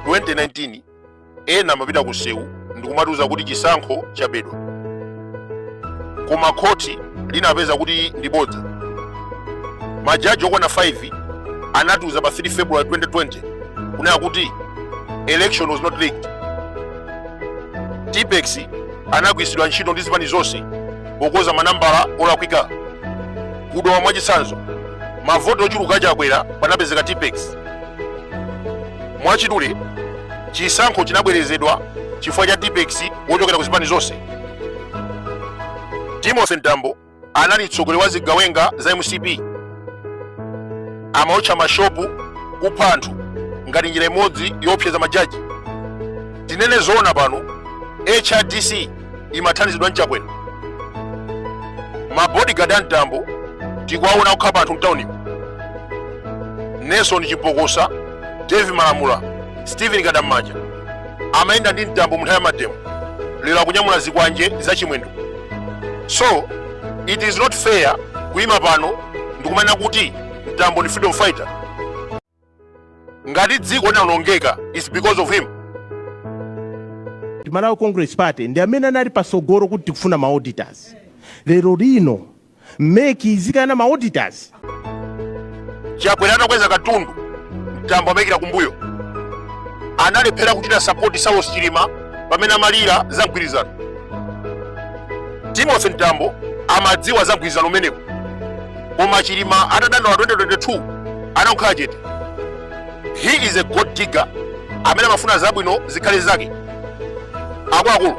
2019 ena amapita ku sewu ndikumatiuza kuti chisankho chabedwa koma khoti linapeza kuti ndi bodza majaji okwana 5 anatiuza pa 3 february 2020 kunena kuti election was not rigged tipex anagwiritsidwa ntchito ndi zipani zonse pokonza manambala olakwika ku Dowa mwachitsanzo mavoti ochuluka chakwera panapezeka tipex mwachidule chisankho chinabwerezedwa chifukwa cha tipex wochokera ku zipani zonse timothy mtambo anali mtsogoleri wa zigawenga za mcp amaotcha mashopu kupha anthu ngati njira imodzi yoopseza majaji tinene zoona pano hrdc imathandizidwa ndi chakwera mabodigadi a mtambo tikuwaona akukhapa anthu mtaunimu nelson chipokosa davi malamula stephen kadamanja amayenda ndi mtambo munthawi ya mademo lero akunyamula zikwanje za chimwendo so it is not fair kuyima pano ndikumanena kuti mtambo ndi freedom fighter ngati dziko linawonongeka is because of him Malawi Congress Party ndi amene anali patsogolo kuti tikufuna ma auditors lero lino mec ikukana ma auditors chakwera atakweza katundu mtambo amaikira kumbuyo analephera kuchita sapoti saulos chilima pamene amalira za mgwirizano timothy mtambo amadziwa za mgwirizano umenewu koma chilima atadandaula 2022 anangokhala chete he is a gold digger amene amafuna zabwino zikhale zake akuluakulu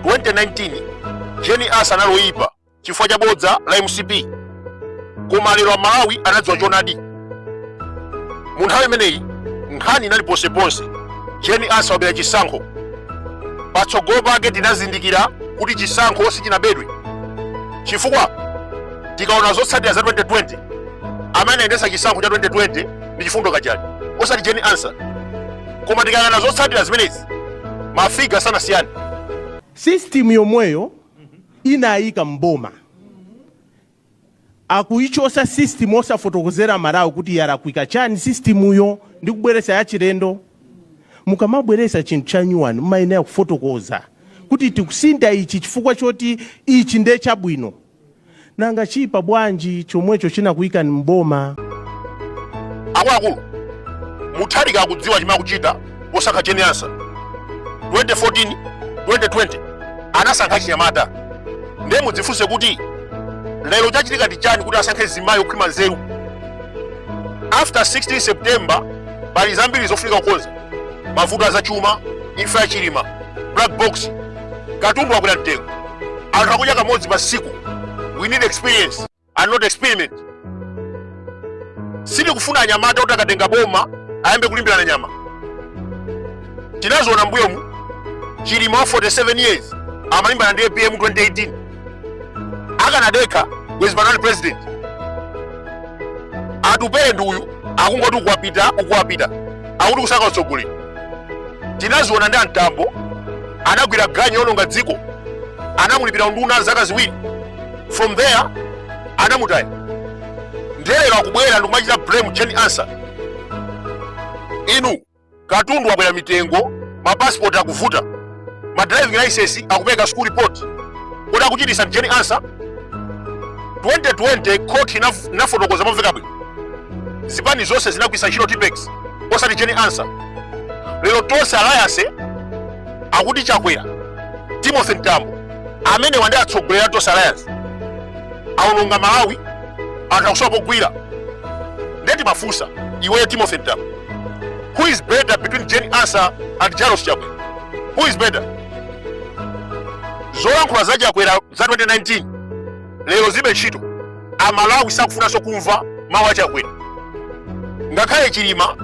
2019 jane ansah anali oyipa chifukwa cha bodza la mcp koma lero amalawi anadziwa chonadi mu nthawi imeneyi nkhani inali ponseponse jane ansah wabera chisankho patsogolo pake tinazindikira kuti chisankho sichinabedwe chifukwa tikaona zotsatira za 2020 amene anayendetsa chisankho cha 2020 ndi chifundo kachale osati jane ansah koma tikayang'ana zotsatira zimenezi mafiga sanasiyane system yomweyo inawayika mboma akuichosa system osafotokozera amalawi kuti yalakwika chani sistimuyo ndi kubweresa yachilendo mukamabweresa chinthu chanyuwani mumayenera kufotokoza kuti tikusintha ichi chifukwa choti ichi nde chabwino Nanga chipa bwanji chomwecho chinakuikani m'boma? Akuluakulu, Mutharika akudziwa chimene akuchita posankha Jane Ansah. 2014, 2020 anasankha achinyamata. Ndiye mudzifunse kuti lero chachitika ndi chani kuti asankhe mzimayi okhwima nzeru? After 16 September pali zambiri zofunika kukonza, mavuto azachuma, imfa ya Chilima, black box katundu wakwera mtengo anthu akudya kamodzi pa tsiku we need experience and not experiment sitikufuna anyamata kuti akatenga boma ayambe kulimbirana nyama tinaziona mbuyomu chilima wa 47 years amalimbana ndi apm 2018 akanadekha bwezi panopa ali president atupele ndi uyu akungoti ukuwapita ukuwapita akuti kusaka utsogoleri tinaziona ndi amtambo anagwira ganyu yononga dziko anamulipira unduna zaka ziwiri from there anamutaya nde lero akubwera ndikumachita blame Jane Ansah inu Katundu wakwera mitengo, ma passport akuvuta, ma driving license akupereka school report. Kodi akuchitisa ndi Jane Ansah? 2020 court inaf- inafotokoza momveka bwino. Zipani zonse zinagwirisa ntchito tipex osati Jane Ansah. Lero tonse alliance akuti chakwera Timothy Mtambo amene mwatitsogolera tonse alliance aononga Malawi anthu akusowa pogwira nde timafunsa iweyo Timothy Mtambo Who is better between Jane Ansah and Lazarus Chakwera? Who is better? Zolankhula za Chakwera za 2019 lero zilibe ntchito. Amalawi sakufunanso kumva mawu a Chakwera. Ngakhale Chilima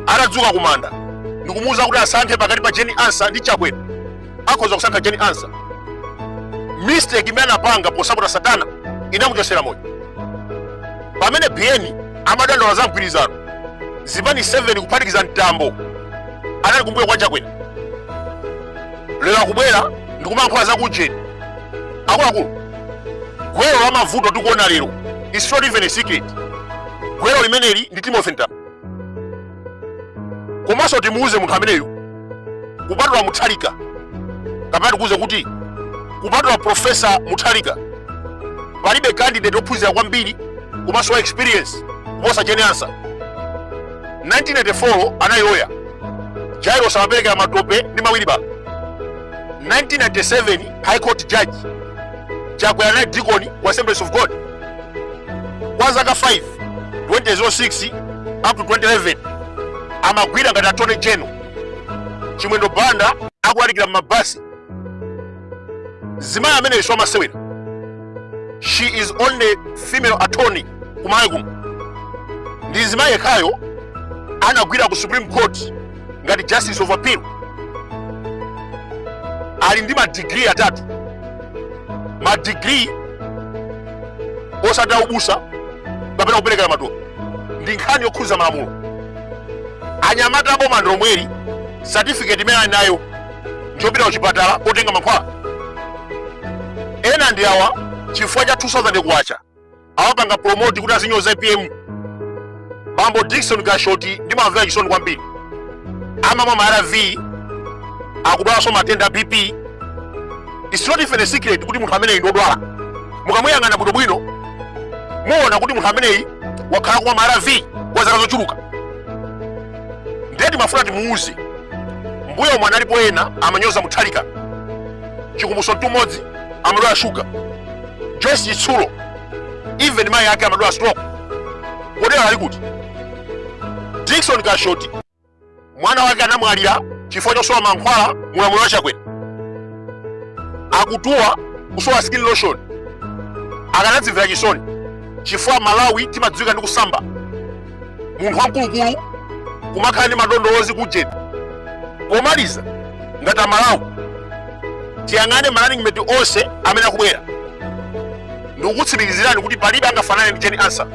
atadzuka kumanda ndikumuwuza kuti asankhe pakati pa Jane Ansah ndi Chakwera. akhoza kusankha Jane Ansah mistake imene anapanga posapota satana inamuchosera moyo pamene Biyeni amadandaula za mgwirizano zipani 7 kuphatikiza mtambo anali kumbuyo kwa chakwera lero akubwera ndikumayankhula za Jane akuluakulu gwero la mavuto tikuona lero is not even a secret gwero limeneli ndi Timothy Mtambo komanso timuuze munthu ameneyo kupatula muthalika kapena tikuuze kuti kupatula profesa muthalika palibe candidate ophunzira kwambiri komanso wa experience kuposa Jane Ansah 1994 anali loya jairos amaperekera matope ndi mawilibala 1997 high court judge chakwera anali dikoni ku assemblies of god kwa zaka 5 2006 up to 2011 amagwira ngati attorney general chimwendo banda akulalikira mmabasi zimayi ameneyo amasewera she is only female attorney kumalawi kuno ndi zimayi yekhayo anagwira ku supreme court ngati justice of appeal ali ndi madigiri atatu madigiri osati aubusa kapena kuperekera maturo ndi nkhani yokhudza malamulo anyamata aboma ndimomweri certificate imene ali nayo njopita kuchipatala kotenga mankhwala ena ndi awa chifukwa cha 2000 kwacha awapanga promote kuti azinyoza apm bambo dikson kashoti ndimamvera chisoni kwambiri amamwa ma arv akudwalaso matenda a bp its not even a secret kuti munthu ameneyi ndodwala mukamuyang'ana bwinobwino muona kuti munthu ameneyi wakhala kumwa ma arv kwa zaka zochuluka ndiye timafuna timuuze mbuyo omwe analipo ena amanyoza muthalika chikumbutso mtumodzi amadwala shuga joyce chitsulo even mayi ake amadwala stroke kodi lero ali kuti dikson kashoti mwana wake anamwalira chifukwa chosowa mankhwala mulamuliro wa chakwera akutuwa kusowa skin lotion akanadzimvera chisoni chifukwa malawi timadziwika ndi kusamba munthu wamkulukulu kumakhala ndi madondowozi kujeni pomaliza ngati amalawi tiyang'ane ma running mate onse amene akubwera ndikukutsimikizirani kuti palibe angafanane ndi jane ansah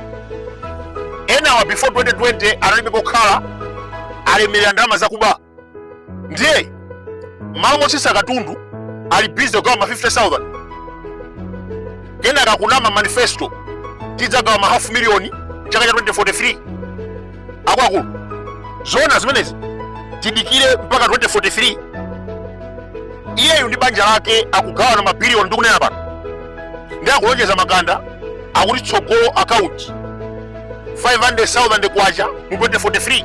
enawa before 2020 analibe pokhala alemerera ndalama zakuba ndiye mmalo motsitsa katundu ali busy kugawa ma 50000 kenaka kunama manifesto tidzagawa ma half million chaka cha 2043 akuluakulu zona zimenezi tidikire mpaka 2043 iyeyu ndi banja lake akugawana mabiliyoni ndi kunena pano ndiye akulonjeza makanda akuti tsogolo akaunti 500,000 kwacha mu 2043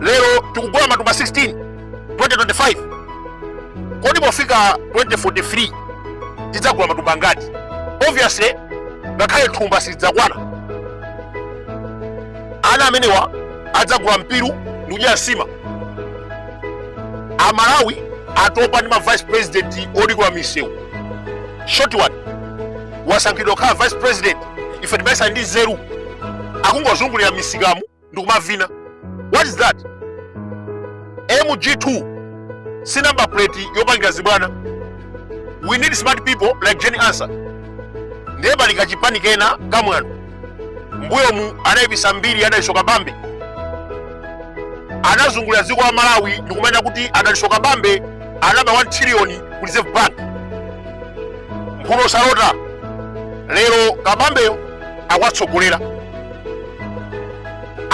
lero tikugula matumba 16 2025 kodi pofika 2043 tidzagula matumba angati obviously ngakhale thumba silidzakwana ana amenewa adzagula mpiru ndi kudyera nsima amalawi atopa ndi ma vice president odikira misewu short one wasankhidwa akhala vice president ife timayesa ndi nzeru akungozungulira misikamu ndikumavina what is that mg2 si number plate yopangira zibwana we need smart people like Jane Ansah ndiye pali kachipani kena kamwano mbuyomu anayipisa mbiri a Dalitso Kabambe anazungulira dziko la malawi ndikumanena kuti a Dalitso Kabambe anaba 1 trillion ku reserve bank mphuno salota, lero kabambeyo akuwatsogolera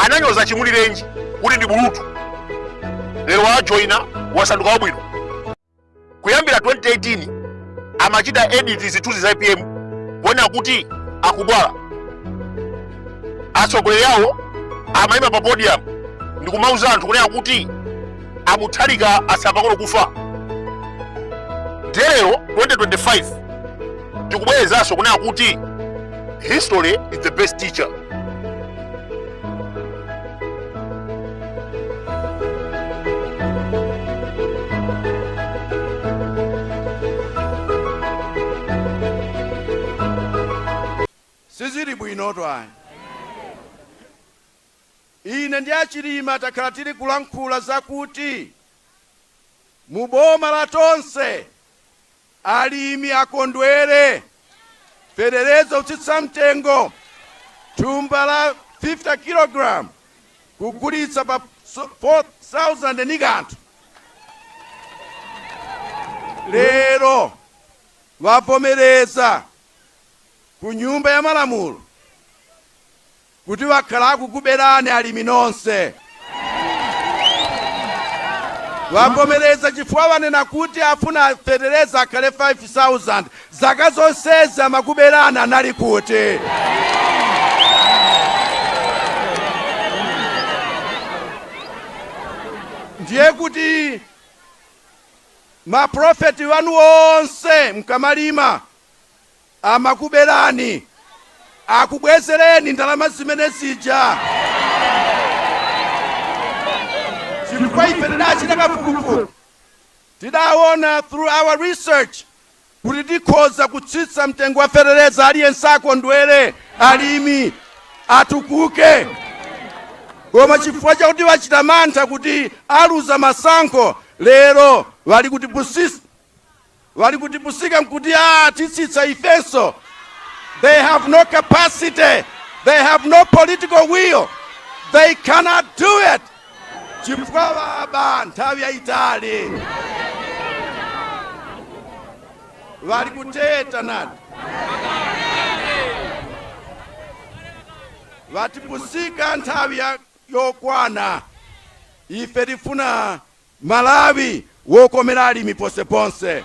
ananyoza chimulirenji kuti ndi bulutu lero wajoina wasanduka wabwino kuyambira 2018 amachita edit zithunzi za apm kuonetsa kuti akudwala atsogoleri awo amayima pa podium ndi kumauza anthu kunena kuti a Mutharika atsala pang'ono kufa nde lero 2025 tikubwerezanso kunena kuti history is the best teacher sizili bwino twani ine ndi a Chilima takhala tili kulankhula zakuti mu boma la tonse Alimi akondwere. Fetereza otsika mtengo, thumba la 50 kilogalamu kugulitsa pa K4,000 ndi kanthu, lero wavomereza ku Nyumba ya Malamulo. kuti wakhala akukuberani alimi nonse. Wavomereza chifukwa wanena kuti afuna fetereza akhale 5,000. Zaka zonsezi amakuberani anali kuti? Ndiye kuti ma profit wanu onse mkamalima, Amakubelani, akubwezeleni ndalama zimene zija chifukwa ife tidachita kafukufuku tidawona through our research kuti tikhoza kutsitsa mtengo wa feteleza aliyense akondwele, alimi atukuke koma chifukwa chakuti bachita mantha kuti aluza masankho lero bali kutipusisa. bali kutipusika nkuti atitsitsa ifenso they have no capacity they have no political will they cannot do it chifukwa baba nthawi yayitali bali kuteta naniti batipusika nthawi ya- yokwana ife tifuna Malawi wokomera alimi ponseponse.